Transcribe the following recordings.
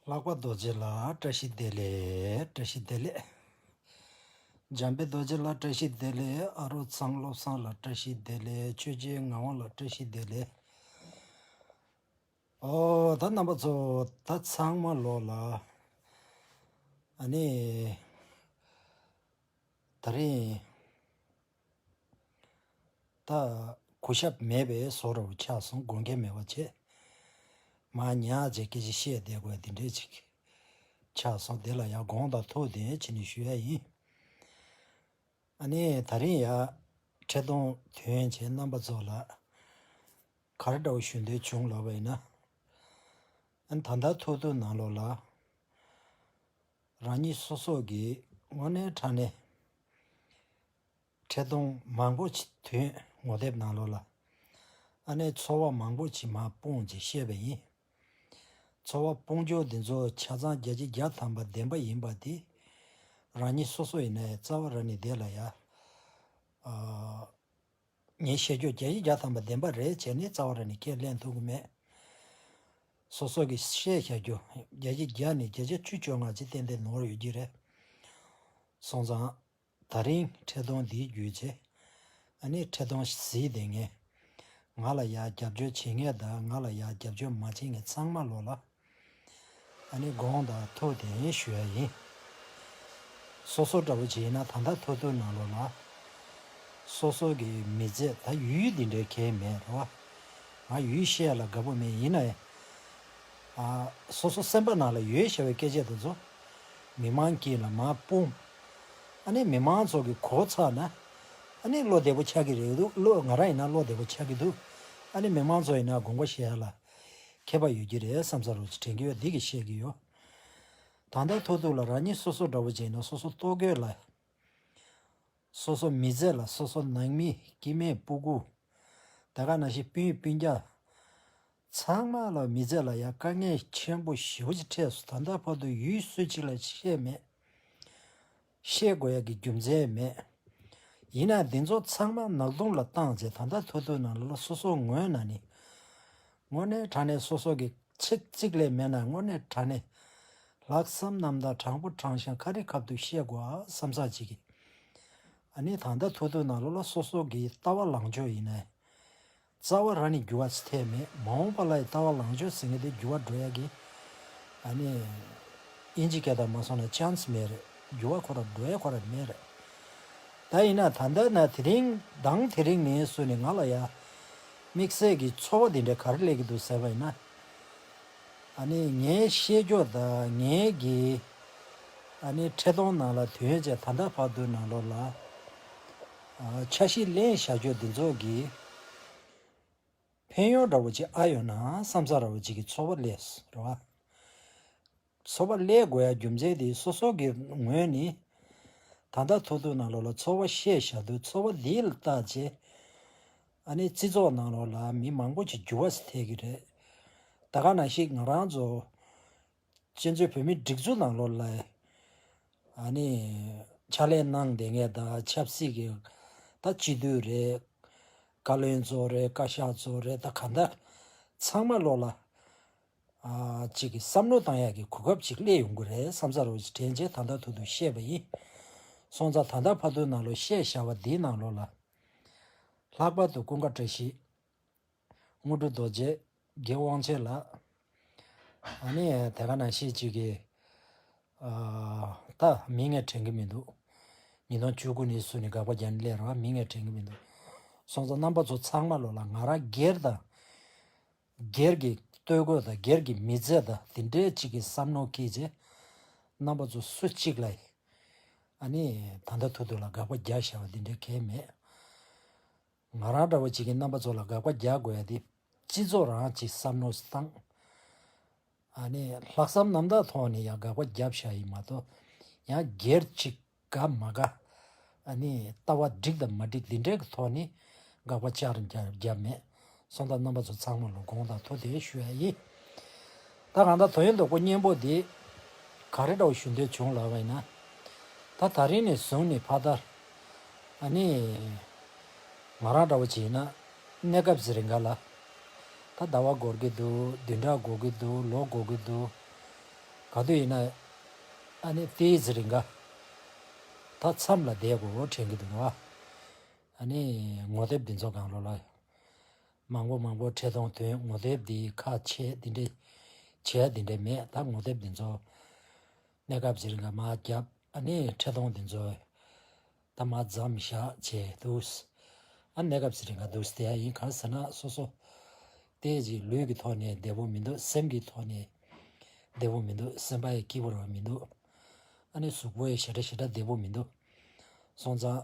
ལྷག་པ་རྡོ་རྗེ་ལ་བཀྲ་ཤིས་བདེ་ལེགས་བཀྲ་ཤིས་བདེ་ལེགས། འཇམ་པའི་རྡོ་རྗེ་ལ་བཀྲ་ཤིས་བདེ་ལེགས་ཨ་རོ་ཚང་བློ་བཟང་ལ་བཀྲ་ཤིས་བདེ་ལེགས་ཆོས་རྗེའི་ངག་དབང་ལ་བཀྲ་ཤིས་བདེ་ལེགས། ཨོ་ད་རྣམ་པ་ཚོ་ད་ཚང་མ་ལོག་ལ། ཨ་ནི་ད་རིང། གོ་ཞབས་མེད་པས་བཟོ་རུ་ཆགས་སོང་དགོན་གྱི་མེ་བ་ཆེ། མ་ཉག་རྗེ་སྐད་ཅིག་ཤེས་བདེ་དགོས་འདི་འདྲས་ཅིག་ཆགས་སོང་དེ་ལ་ཡང་དགོངས་དང་ཐུགས་བདེན་ཕྱི་ནས་ཞུ་ཡ་ཡིན། ད་རིང་ཡང་ཁྲི་སྟོང་དོན་བྱས་རྣམ་པ་ཚོ་ལ་གར་འདྲ་བོ་ཞུ་འདོད་བྱུང་ལབ་པ་ཡིན། ད་ལྟ་ཐུག་ཐུག་ནང་ལོགས་ལ། རང་ཉིད་སོ་སོ་གི་དངོས་གནས་དྲང་གནས་འཕྲལ་སྡོམ་མང་པོ་ཆེ་དུས་ངོ་དེབ་ནང་ལོག་ལ་ཨ་ནེ་ཚོ་བ་མང་པོ་ཆེ་མ་སྤོངས་ཅེས་བཤད་པ་ཡིན། ཚོ་བ་སྤོངས་རྒྱུ་དེ་ཚོ་ཆ་ཚང་རྒྱ་ཆེ་རྒྱ་ཐམ་པ་བདེན་པ་ཡིན་པ་དེ་རང་ཉིད་སོ་སོ་ཡིན་ནའི་རྩ་བ་ར་ནི་བདེ་ལ་ཡ། ངས་བཤད་རྒྱུར་བརྒྱ་ཡིག་བརྒྱ་ཐམ་པ་བདེན་པ་རེད་བྱས་ནས་རྩ་བ་ར་ནས་ཁས་ལེན་ཐུབ་ཀྱི་མེད། སོ་སོ་གིས་བཤད་བྱ་རྒྱུ། བརྒྱ་ཡིག་བརྒྱ་ནས་བརྒྱ་ཆ་བཅུ་བཅོ་ལྔ་ཇི་བསྟན་བསྟན་ནོར་ཡོད་ཀྱི་རེད། སོང་ཙང། ད་རིང་འཕྲལ་སྡོམ་འདིའི་རྒྱུ་ཆེ། ཨ་ནེ་འཕྲལ་སྡོམ་བཟི་དེ་ངས། ང་ལ་ཡག་རྒྱབ་སྐྱོར་བྱེད་མཁན་དང་ང་ལ་ཡག་རྒྱབ་སྐྱོར་མ་བྱེད་མཁན་ཚང་མ་ལོག་ལ། ཨ་ནི་དགོངས་དག་ཐུགས་དེ་ཉིད་ཞུ་ཡ་ཡིན། སོ་སོ་འདྲ་བོ་བྱས་ན་ད་ལྟ་ཐོ་ཐོ་ན་ལོ་ལ། སོ་སོ་གི་མི་ཚེ་ད་ཡུལ་ཡུལ་འདི་འདྲའི་གལ་མེད་རོ། ང་ཡུལ་གཤེགས་ལ་དགའ་པོ་མེད་ཡིན་ནའི། སོ་སོ་སེམས་པ་ན་ལ་ཡོད་ཞེས་པའི་སྐད་ཆས་དེ་ཚོ། མི་མང་གིས་ལ་མ་སྤུངས། ཨ་ནི་མི་མང་ཚོ་གི་གོ་ཚ་ན། ཨ་ནི་བློ་བདེ་པོ་ཆགས་ཀྱི་རེད་འདུག་བློ་ང་རང་ཡིན་ན་བློ་བདེ་པོ་ཆགས་ཀྱི་འདུག་ཨ་ནི་མི་མང་ཚོ་ཡིན་ན་དགོངས་པ་བཞེས་ལ། མཁས་པ་ཡོད་ཀྱི་རེད་བསམ་ས་རུ་དྲན་གི་ཡོད་འདི་གི་བཤད་གི་ཡོད། ད་ལྟ་ཐོག་ཐུག་ལ་རང་ཉིད་སོ་སོ་འདྲ་བོ་བྱས་ནས་སོ་སོ་ལྟོ་གོས་ལ། སོ་སོ་མི་ཟས་ལ་སོ་སོ་ནང་མི་སྐྱི་སྨད་སྤུ་གུ། ད་ག་ན་ཞིག་སྤུན་ཡིན་སྤུན་རྒྱ། ཚང་མ་ལ་མི་ཟས་ལ་ཡ་དཀའ་ངལ་ཆེན་པོ་ཞི་བོ་ཅིག་འཕྲད་སོ་ད་ལྟ་བར་དུ་ཡུལ་སྲོལ་ཅིག་ལ་ཆད་མེད། བཤད་དགོས་ཀྱི་རྒྱུ་མཚན་མེད། ཡིན་ན་འདི་ཚོ་ཚང་མ་ནག་དུང་ལ་བཏང་རྗེས་ད་ལྟ་ཐོ་ཐོའི་ནང་ལ་ལ་སོ་སོ་ངོས་ན་ནི། དངོས་གནས་དྲ་གནས་སོ་སོ་གི་ཆེ་གཙིགས་ལས་མེད་ན་དངོས་གནས་དྲ་གནས་ལྷག་བསམ་ནམ་ད་དྲང་པོ་དྲང་ཞིང་ཁ་རི་ཁབ་ཏུ་བཤད་དགོས་ཨ་བསམ་བསམ་བྱེད་ཀྱི། ཨ་ནི་ད་ལྟ་ཐོ་ཐོའི་ནང་ལ་ལ་སོ་སོ་གི་ལྟ་བ་ལངས་ཕྱོགས་ཡིན་ནའི། རྩ་བ་ར་ནི་འགྱུར་བ་ཚེ་ཐལ་མེད་མ་འོངས་པ་ལ་ཡི་ལྟ་བ་ལང་སྤྱོད་ཟིང་གེ་དེ་འགྱུར་བ་འགྲོ་ཡ་གི། ཨ་ནི། དབྱིན་ཇི་སྐད་དང་མ་སོང་ན chance མེད་རེད་འགྱུར་བ་ཁོ་ར་འགྲོ་ཡ་ཁོ་ར་མེད་རེད། ད་ཡིན་ན་ད་ལྟ་ན་དེ་རིང་དང་དེ་རིང་མིན་སུ་ནི་ང་ལ་ཡ། དམིགས་བསལ་གི་འཚོ་བ་དེ་འདྲ་ག་རེ་ལས་ཀི་འདུག་ཟེར་བ་ཡིན་ན། ཨ་ནི་ངའི་ཤེས་འགྱོད་དང་ངའི་གི། ཨ་ནི་ཁྲེ་གདོང་ནང་ལ་དུས་ཡོན་ཅན་ད་ལྟ་བར་དུ་ན་ལོར་ལ། ཆ་ཤས་གླེང་བྱ་ཁྱོད་འདི་ཚོ་གི། ཕན་ཡོན་ར་བ་ཅིག་ཨ་ཡོད་ན་བསམ་ཚ་ར་བ་ཅིག་གི་ཚོ་བ་ལས་ར་བ། ཚོ་བ་ལས་དགོས་ཡ་རྒྱུ་མཚན་དེ་སོ་སོ་གི་ངོས་ནས། ད་ལྟ་ཐུག་ཐུག་ནང་ལོག་ལ་ཚོ་བ་བཤད་བྱ་དུས་ཚོ་བ་འདིའི་ལྟ་བྱེད། ཨ་ནི་བརྩི་ཚོགས་ནང་ལོག་ལ་མི་མང་པོ་ཅིག་འགྱུར་བ་ཐེབས་ཀྱི་རེད། ད་ག་ན་ཞིག་ང་རང་ཚོ། གཅན་བཟོད་བོད་མིའི་སྒྲིག་འཛུགས་ནང་ལོགས་ལ་ཕྱག་ལས་གནང་དེ་ངས་ད་ཆབ་སྲིད་ཀྱི་ད་སྤྱི་འཐུས་རེད། བཀའ་བློན་གཙོ་རེད་བཀའ་ཤག་གཙོ་རེད་ད་ག་ད་ཚང་མ་ལོགས་ལ་ཅིག་བསམ་བློ་གཏང་ཡག་གི་གོ་སྐབས་ཅིག་སླེ་ཡོང་གི་རེད་བསམ་ས་རུ་དྲན་རྗེས་ད་ད་ཐུག་ཐུག་བཤད་པ་ཡིན། སོང་ཙང་ད་ད་ཕ་དོན་ནང་ལོགས་བཤད་བཞག་པ་འདིའི་ནང་ལོགས་ལ། ལྷག་པར་དུ་ཀུན་དགའ་བཀྲ་ཤིས། དངོས་གྲུབ་རྡོ་རྗེ་དགེ་དབང་ཆེ་ལགས། ཨ་ནི་དེ་ག་ན་བཤད་ཅིག་གི། ད་མི་ངས་དྲན་གི་མི་འདུག། ཉིས་སྟོང་བཅུ་དགུ་ནས་སུ་ནི་དགག་པ་རྒྱ་ནི་ལས་རང་མི་ངས་དྲན་གི་མི་འདུག། སོང་ཙང་རྣམ་པ་ཚོ་ཚང་མ་ལོ་ལ་ང་རང་སྒེར་དང། སྒེར་གྱི་སྟོད་གོས་དང་སྒེར་གྱི་མི་ཚེ་དང་དེ་འདྲའི་ཅིག་གི་བསམ་མནོ་སྐྱེས་རྗེས། རྣམ་པ་ཚོ་སུ་གཅིག་ལ། ཨ་ནི་ད་ལྟ་ཐུག་ཐུག་ལ་དགག་པ་རྒྱག་བཞག་པ་འདི་འདྲའི་གལ་མེད། ང་རང་འདྲ་བོ་བྱེད་མཁན་རྣམ་པ་ཚོ་ལ་དགག་པ་རྒྱག་དགོས་ཡ་དེ་སྤྱི་ཚོགས་རང་གི་བསམ་བློ་བཏང། ཨ་ནི་ལྷག་བསམ་རྣམ་དག་ཐོག་ནས་ཡང་དགག་པ་རྒྱབ་བཞག་ཡིན་མ་གཏོགས་ཡང་སྒེར་གཅིག་དགའ་མ་དགའ། ཨ་ནི་ལྟ་བ་འགྲིག་དང་མ་འགྲིག་འདི་འདྲའི་གི་ཐོག་ནས་དགག་པ་བཅར་འགྱར་རྒྱབ་མེད་སོང་ད་རྣམ་པ་ཚོ་ཚང་མ་ལོ་དགོང་དང་ཐུག་དེ་ཞུ་ཡ་ཡིན། ད་གང་ལྟར་དོན་ལྡོག་པོ་གཉེན་པོ་འདི། ག་རེ་འདྲ་བོ་ཞུ་འདོད་བྱུང་ལགས་པས་ན། ད་ད་རིང་ནས་བཟུང་ནས་ཕ་ད། ནི། ང་རང་འདྲ་བོ་བྱས་ན། གནས་སྐབས་ཟེར་རེ་འགའ་ལ། ད་ཟླ་བ་འགོར་གི་འདུག་བདུན་ཕྲག་འགོར་གི་འདུག་ལོ་འགོར་གི་འདུག། ག་དུས་ཡིན་ན། ནི་ལྟས་ཟེར་རེ་འགའ། ད་མཚམས་ལ་བསྡད་གོ་དྲན་གི་འདུག་ང། ནི། ངོ་དེབ་འདི་ཚོ་གང་རུང་ལ། མང་པོ་མང་པོ་ཁྲེལ་གཏོང་དོན་ངོ་དེབ་འདི་ཁ་ཆེ་འདི་འདྲས་བྱས་འདི་འདྲས་མེད་ད་ངོ་དེབ་འདི་ཚོ་གནས་སྐབས་ཟེར་འགའ་མ་རྒྱབ་ཨ་ནི་ཁྲེལ་གཏོང་འདི་ཚོ་ད་མ་བརྫམ་བཞག་བྱས་འདུག་ཨ་གནས་སྐབས་ཟེར་འགའ་འདུག་དེ་ཡིན་གང་ཟེར་ན་སོ་སོ་ལྟས་ཅིག་ལུས་ཀྱི་ཐོག་ནས་བདེ་བོ་མི་འདུག་སེམས་ཀྱི་ཐོག་ནས་བདེ་བོ་མི་འདུག་སེམས་པ་ཡི་སྐྱིད་པོ་རང་མི་འདུག་ཨ་ནི་གཟུགས་པོ་ཡི་ཞེ་དྲག་ཞེ་དྲག་བདེ་བོ་མི་འདུག་སོང་ཙང།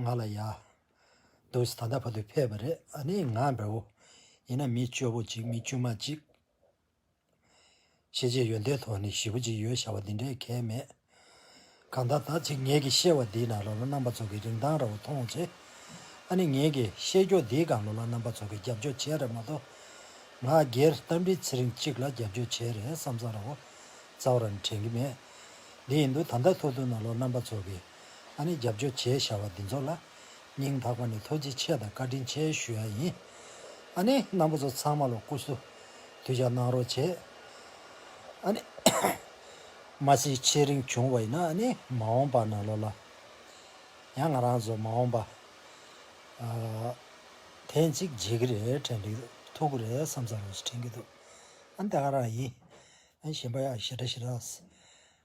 ང་ལ་ཡག། འདུག་ཟེར་ད་ལྟ་བར་དུ་ཕེབས་པ་རེད་ཨ་ནི་ང་འདྲ་བོ། ཡིན་ན་མི་སྐྱོ་བོ་གཅིག་མི་དཀྱུས་མ་གཅིག། ཤེས་བྱའི་ཡོན་ཏན་ཐོག་ནས་ཞི་བོ་གཅིག་ཡོད་བྱ་བ་འདི་འདྲའི་གལ་མེད། གང་ལྟར་ད་ཅིག་ངེད་ཀྱི་ཤེས་བ་འདིས་ན་ལོ་ལ་རྣམ་པ་ཚོ་གི་རིན་ཐང་ར་བ་མཐོང་ཆེ། ཨ་ནི་ངེད་ཀྱི་ཤེས་རྒྱོགས་འདིས་གང་ལོ་ལ་རྣམ་པ་ཚོ་གི་རྒྱབ་སྐྱོར་བྱས་རེད་མ་གཏོགས། ང་སྒེར་རྟ་མགྲིན་ཚེ་རིང་གཅིག་ལ་རྒྱབ་སྐྱོར་བྱས་རེད་བསམ་བསམ་ར་བ་རྩ་བ་ར་ནི་དྲན་གྱི་མེད། འདི་ཡིན་འདུག་ད་ལྟ་ཐུག་ཐུག་ན་ལོ་རྣམ་པ་ཚོ་གི། ཨ་ནི་རྒྱབ་སྐྱོར་བྱེད་བཞག་པ་འདི་ཚོ་ལ། སྙིང་ཐག་པ་ནས་ཐུགས་རྗེ་ཆེ་དང་བཀའ་དྲིན་ཆེ་ཞུ་ཡ་ཡིན། ཨ་ནི་རྣམ་པ་ཚོ་ཚང་མ་ལོ་སྐུ་སུ་དུས་ཀྱང་གནང་རོགས་བྱེད། ཨ་ནི། མ་སྲིད་ཆེས་རིང་བྱུང་བ་ཡིན་ན་ཨ་ནི་མ་འོངས་པ་ན་ལོ་ལ། ཡང་ང་རང་ཚོ་མ་འོངས་པ། ཐེངས་གཅིག་མཇལ་གྱི་རེད་དྲན་གྱི་འདུག་ཐུག་གི་རེད་བསམ་ཚར་ལོ་སུ་དྲན་གྱི་འདུག་ཨ་ནི་ད་ག་རང་ཡིན། ཨ་ནི་གཞན་པ་ཡང་ཞེ་དྲག་ཞེ་དྲག།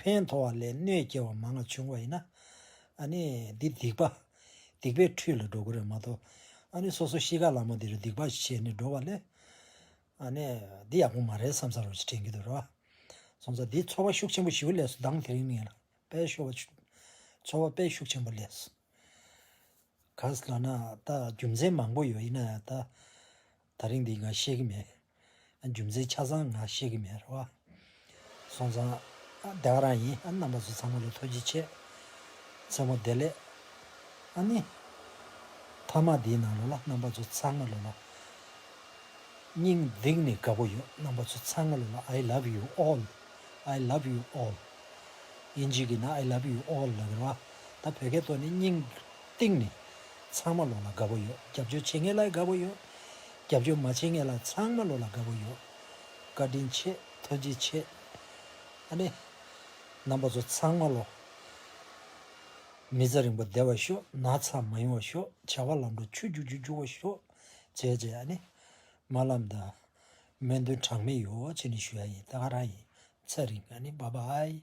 ཕན་མཐོ་བ་ལས་གནོད་སྐྱེལ་བ་མང་ལ་ཆུང་བ་ཡིན་ན། འདི་སྡིག་པ། སྡིག་པའི་ཁྲུས་ལ་འགྲོ་དགོས་རེད་མ་གཏོགས། སོ་སོ་གཤིས་ཀ་ལ་མོ་འདི་རུ་སྡིག་པ་བྱས་ནས་འགྲོ་བ་ལས། འདི་ཡག་པོ་མ་རེད་བསམ་ས་རུ་དྲན་གྱི་འདུག་རེད་བ། སོང་ཙང་འདིས་འཚོ་བ་ཤུགས་ཆེན་པོ་ཞུ་ལས་སུ་འདང་དེ་རིང་མིན་ལ་དཔལ་ཤོར་བ། འཚོ་བ་དཔལ་ཤུགས་ཆེན་པོ་ལས། ག་ལ་ན་ད་རྒྱུ་མཚན་མང་པོ་ཡོད་ཡིན་ན་ད། ད་རིང་འདི་ང་ཤེས་ཀྱི་མེད། རྒྱུ་མཚན་ཆ་ཚང་ང་ཤེས་ཀྱི་མེད་རེད་བ། སོང་ཙང། བདེ་བ་རང་ཡིན་རྣམ་པ་ཚོ་ཚང་མ་ལ་ཐུགས་རྗེ་ཆེ། མཚན་མོ་བདེ་ལེགས། ཨ་ནི། མཐའ་མ་འདིའི་ནང་ལོ་ལ་རྣམ་པ་ཚོ་ཚང་མ་ལོ་ལ། སྙིང་གདེངས་ནས་དགའ་པོ་ཡོད་རྣམ་པ་ཚོ་ཚང་མ་ལོ་ལ I love you all I love you all། དབྱིན་ཇི་གི་ན I love you all ལབ་པ་རེད་བ། ད་བོད་སྐད་ཐོག་ནས་སྙིང། སྟེང་ནས། ཚང་མ་ལོག་ལ་དགའ་བོ་ཡོད་རྒྱབ་སྐྱོར་བྱེད་མཁན་ལ་དགའ་བོ་ཡོད། རྒྱབ་སྐྱོར་མ་བྱེད་མཁན་ལ་ཚང་མ་ལོག་ལ་དགའ་བོ་ཡོད། བཀའ་དྲིན་ཆེ་ཐུགས་རྗེ་ཆེ། ཨ་ནེ། རྣམ་པ་ཚོ་ཚང་མ་ལོག། མི་ཚེ་རིང་པོ་བདེ་བར་ཤོག་ན་ཚ་མ་ཡོང་བར་ཤོག་བྱ་བ་ལམ་འགྲོ་ཆུ་རྒྱུག་རྒྱུག་རྒྱུག་བར་ཤོག་བྱས་བྱས་ཨ་ནེ། མ་ལམ་དང། སྨོན་འདུན་གྲངས་མེད་ཡོད་བྱས་ནས་ཞུ་ཡ་ཡིན་ད་ག་རང་ཡིན་ཚེ་རིང་ཨ་ནེ་བྷ་བྷ་ཨའི།